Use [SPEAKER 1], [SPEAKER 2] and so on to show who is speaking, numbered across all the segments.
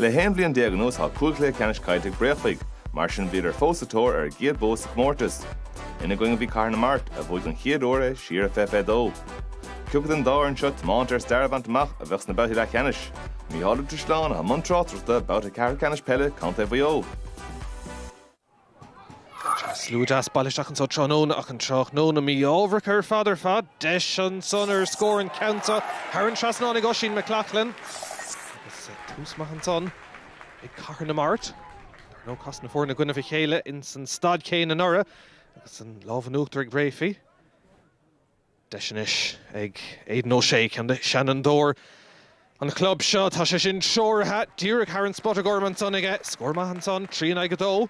[SPEAKER 1] Le haon bhliain déag anuas tá cúig chluiche ceannais caillte ag Bréachmhaigh, mar sin bhíodar fós sa tóir ar a gcéad bua sa chomórtas. Ina gcoinne a bhí Cathair na Mart, a bhuaigh don chéad uair é siar i 2022. Cé acu den dá fhoireann seo tiomanta ar stair a bhaint amach a bheadh sna babhtaí leathcheannais. Micheál Ó Drisleáin, atá i mbun tráchtaireachta, babhta ceathrú Ceannais Peile Contae Mhaigh Eo. Slua deas bailithe isteach anso tráthnóna ach an tráthnóna mí-ámharach ar fad ar fad. Deis ansan ar scór an ceann seo thar an trasnán ag Oisín McLaughlin. Agus tús maith ansan ag Cathair na Mart. Dar ndóigh chas na foirne i gcoinnibh a chéile insan staid chéanna anuraidh agus an lámh in uachtar ag Breaffy. Deis anois ag Aidan O'Shea seanfhondúir an chlub seo. Tá sé sin treoraithe díreach thar an spota gorm ansan aige. Scór maith ansan, trí in aghaidh a dó.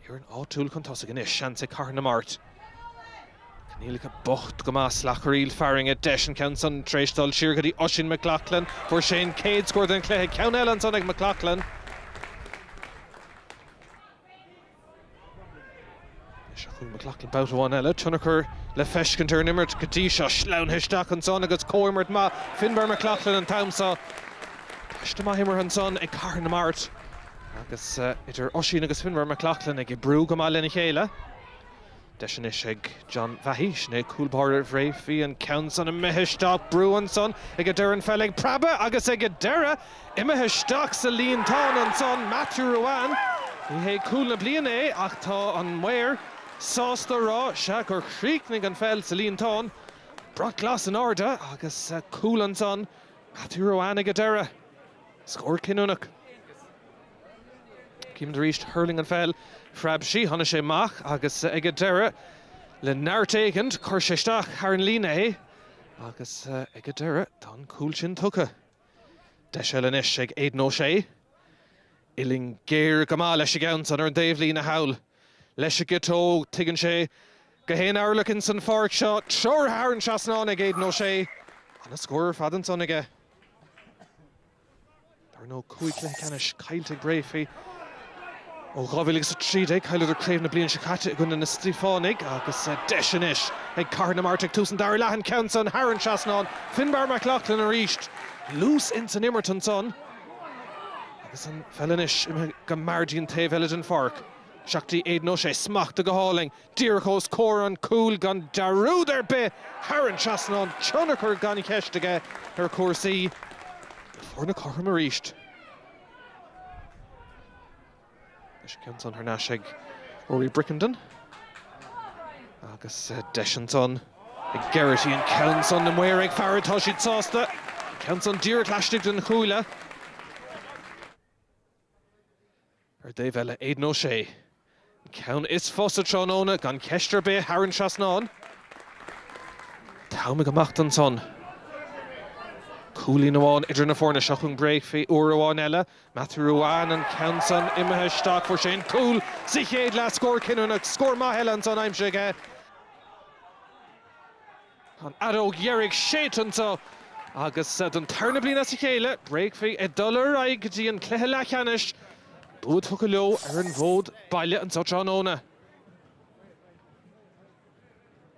[SPEAKER 1] Foireann áitiúil chun tosaigh anois, seans ag Cathair na Mart. Coinníollacha bocht go maith, slacharaíl fearthainne. Deis an ceann san tar éis dul siar go dtí Oisín McLaughlin. Fuair sé an céad scór den chluiche. Ceann eile ansan ag McLaughlin. Anois chuig McLaughlin babhta amháin eile. Tionchar le feiscint ar an imirt go dtí seo. Sleamhnaithe isteach ansan agus comhimirt maith Finbar McLaughlin an t-am seo. Paiste maith imeartha ansan ag Cathair na Mart agus idir Oisín agus Finbar McLaughlin ag oibriú go maith lena chéile. Deis anois ag John Vahey. Sin é cúl báire Bhreaffy, an ceann san imithe isteach. Brú ansan ag a deireadh an pheil ag preabadh agus ag a deireadh imithe isteach sa líontán ansan Matthew Ruane. Ní hé cúl na bliana é ach tá an maor sásta a rá, sea, gur chríochnaigh an pheil sa líontán. Brat glas in airde agus cúl ansan Matthew Ruane ag a deireadh. Scór cinniúnach. Címid arís, thuirling an pheil, phreab sí, tháinig sé amach agus ag an deireadh, le neart éigint, chuir sé isteach thar an líne é agus ag an deireadh, tá an cúl sin tugtha. Deis eile anois ag Aidan O'Shea. Uillinn géar go maith leis an gceann san ar an dtaobhlíne thall. Leis an gciotóg, tuigeann sé gach aon orlach ins an pháirc seo, treoraithe thar an trasnán ag Aidan O'Shea. Ana-scór ar fad ansan aige. Dar ndóigh, cúig chluiche ceannais caillte ag Breaffy ó 2013. Chailleadar craobh na bliana seo caite i gcoinne na Stiofánaigh agus deis anois ag Cathair na Mart ag tús an dara leath, an ceann san thar an trasnán. Finbar McLaughlin arís luas ins an imirt ansan agus an pheil anois imithe go mear dtí an taobh eile den pháirc. Isteach go dtí Aidan O'Shea smachta go hálainn. Díreach ós comhair an chúil gan dearúd ar bith thar an trasnán. Tionchar gan cheist aige ar chúrsaí. Foirne cothrom arís. Deis an ceann san thar n-ais ag Rory Brickenden. Agus deis ansan ag Geraghty. An ceann san na maoir ag faire. Tá siad sásta. An ceann san díreach laistigh den chuaille. Ar an dtaobh eile, Aidan O'Shea. An ceann is fusa tráthnóna, gan cheist ar bith, thar an trasnán. Tamall amach ansan. Cúilín amháin idir na foirne seo chun Bréachmhaí uair amháin eile. Matthew Ruane an ceann san, imithe isteach, fuair sé an cúl sa chéad leath, scór cinniúnach, scór maith eile ansan, aimsithe aige. Tá an fheadóg dheiridh séidte ansan agus don tarna bliain as a chéile Bréachmhaigh ag dul ar aghaidh go dtí an cluiche leathcheannais, bua tugtha leo ar an bhfód baile anseo tráthnóna.